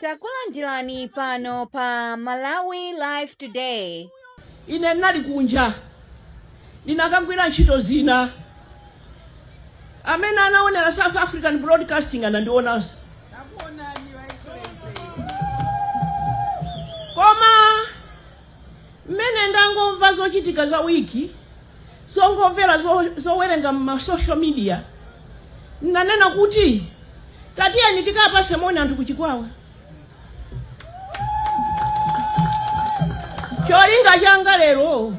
Takulandirani pano pa Malawi Live Today. ine ndinali kunja ndinakagwira ntchito zina amene anaonera south african broadcasting anandionanso koma Mmene ndangomva zochitika za week, zongomvera, zowerenga mma social media, nnanena kuti tatiyeni tikapase moni anthu ku Chikwawa. Cholinga changa lero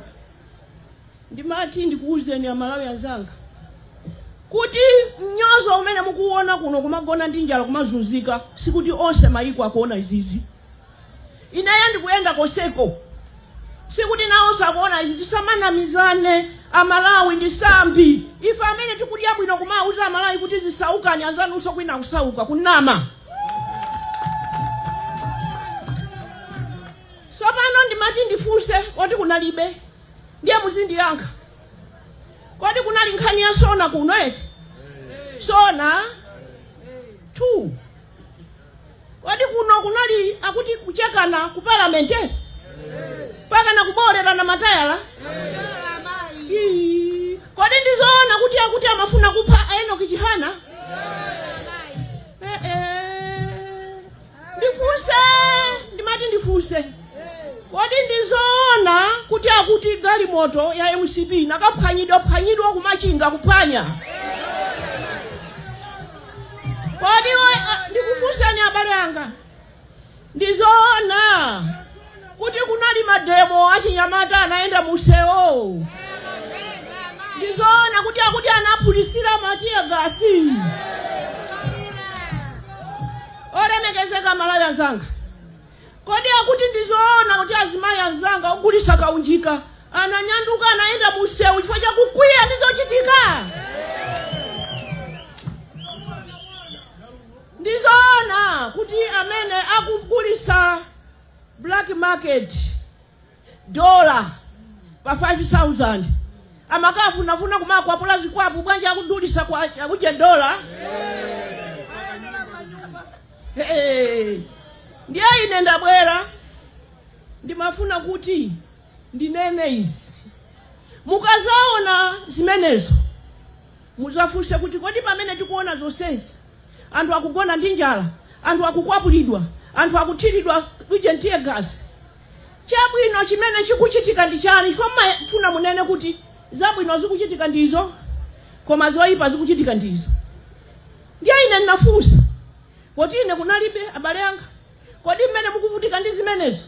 ndimati ndikuwuzeni Amalawi anzanga kuti mnyozo umene mukuwona kuno kumagona ndi njala kumazunzika, sikuti onse mayiko akuona izizi. Ineyo ndikuyenda konseko sikuti nawonso akuona izi tisamanamizane amalawi ndi tsambi ife amene tikudya bwino kumawuza amalawi kuti zisaukani anzanunso kwina akusauka kunama sopano ndimati ndifunse kodi kunalibe ndiye muzindiyankha kodi kunali nkhani ya sona kuno eti sona 2 Kodi kuno kunali akuti kuchekana ku parliament eh? Mpakana kuboolerana matayala. Ii, Kodi ndizoona kuti akuti amafuna kupha Enoch Chihana? Eh, eh. Ndifuse, ndimati ndifuse. Kodi ndizoona kuti akuti galimoto ya MCP nakaphwanyidwa phwanyidwa kumachinga kuphwanya? Kodi ndikufunseni abale anga, ndi zoona kuti kunali mademo achinyamata anayenda mumsewu? Ndi zoona kuti akuti anaphulisira ma tear gas? Olemekezeka Amalawi anzanga, Kodi akuti ndi zoona kuti azimayi anzanga ogulitsa kaunjika ananyanduka anayenda mu msewu chifukwa cha kukwiya ndi zochitika? Ndi zoona kuti amene akugulitsa black market dola pa 5000 amakafunafuna kumakwapula zikwapu bwanji akudulitsa kwa ujeni dola Hey, ndiye ine ndabwera ndimafuna kuti ndinene izi mukazaona zimenezo muzafunse kuti kodi pamene tikuona zonsezi anthu akugona ndi njala anthu akukwapulidwa anthu akuthiridwa uje tear gas Chabwino chimene chikuchitika ndi chani? Chifukwa mmafuna munene kuti zabwino zikuchitika ndi izo koma zoyipa zikuchitika ndi izo. Ndiye ine ndinafunsa poti ine kunalibe abale anga, kodi mmene mukuvutika ndi zimenezo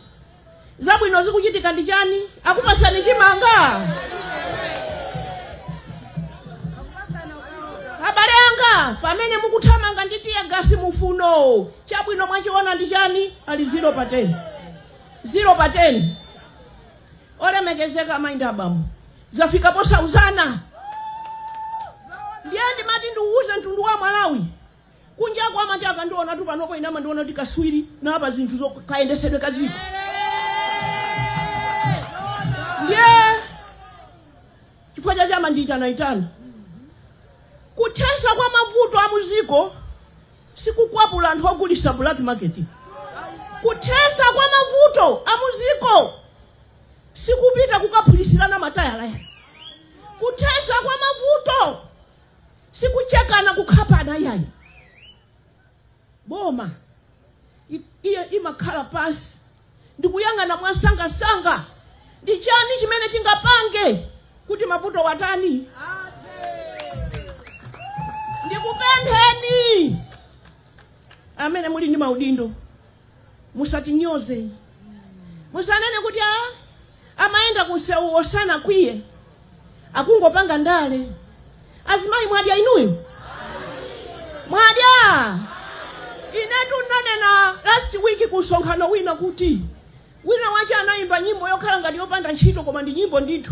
zabwino zikuchitika ndi chani? Akupasani chimanga? Abale anga, pamene mukuthamanga ndi tiyagasi mufuno Chabwino mwachiona ndi chani? Ali 0 pa 10. 0 pa 10. Olemekezeka amayi ndi abambo. Zafika posauzana. Ndiye ndimati ndiuze mtundu wa Malawi. Kunjaku amati akandionatu panopo ine amandiona kuti kaswiri na apa zinthu zokayendesedwe ka dziko. Ndiye chifukwa chake amandiitanaitana. Kuthesa kwa mavuto amuziko sikukwapula anthu ogulisa black market. Kuthesa kwa mavuto amuziko sikupita kukaphulisilana matayala ayi. Kuthesa kwa mavuto sikuchekana kukhapana ayi. Boma iyo imakhala pasi ndi kuyang'ana mwamsangamsanga ndi chani chimene tingapange kuti mavuto watani ndikupempheni amene muli ndi maudindo musatinyoze musanene kuti a amayenda kumsewuwo sanakwiye akungopanga ndale azimayi mwadya inuyo mwadya inetu ndanena last week ku msonkhano wina kuti wina wake anayimba nyimbo yokhala ngati yopanda ntchito koma ndi nyimbo ndithu